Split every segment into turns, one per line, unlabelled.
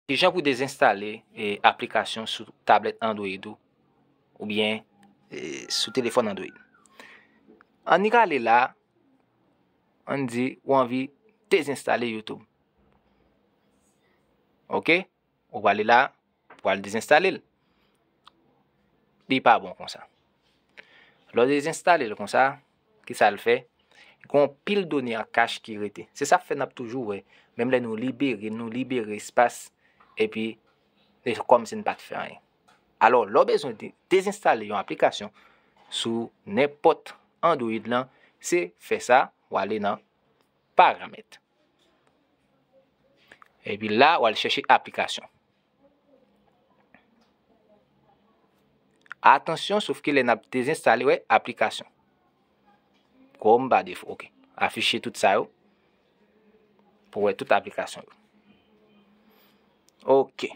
Kijan pou dezenstale aplikasyon sou tablèt Android ou oubyen sou telefòn Android. An ni rale la, an di ou anvi dezenstale YouTube. Ok, ou wale la, ou wale dezenstale l. Li pa bon konsa. Lò dezenstale l konsa. Ki sa l fè? Gen yon pil done an kach ki rete. Se sa k fè n ap toujou wè, menm lè nou libere, nou libere espas, epi se kòmsi n pa t fè anyen. Alò, lè w bezwen dezenstale yon aplikasyon sou nenpòt Android lan, se fè sa, w ale nan Paramèt. Epi la, w al chèche Aplikasyon. Atansyon sofke lè nap dezenstale wè aplikasyon. Chrome pa defo. Ok. Afiche tout sa yo. Pou wè tout aplikasyon yo. Ok.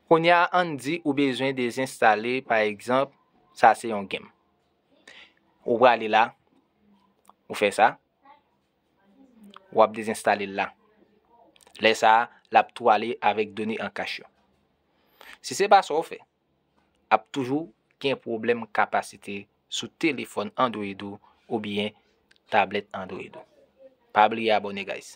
Kounye a an di ou bezwen dezenstale pa egzanp sa se yon game. Ou prale la. Ou fè sa. wap dezinstalel la. Lè sa a, lap tou ale avèk done an kach yo. Si se pa sa w fè, ap toujou gen pwoblèm kapasite sou telefòn Android ou oubyen tablèt Android ou. Pa bliye abone guys.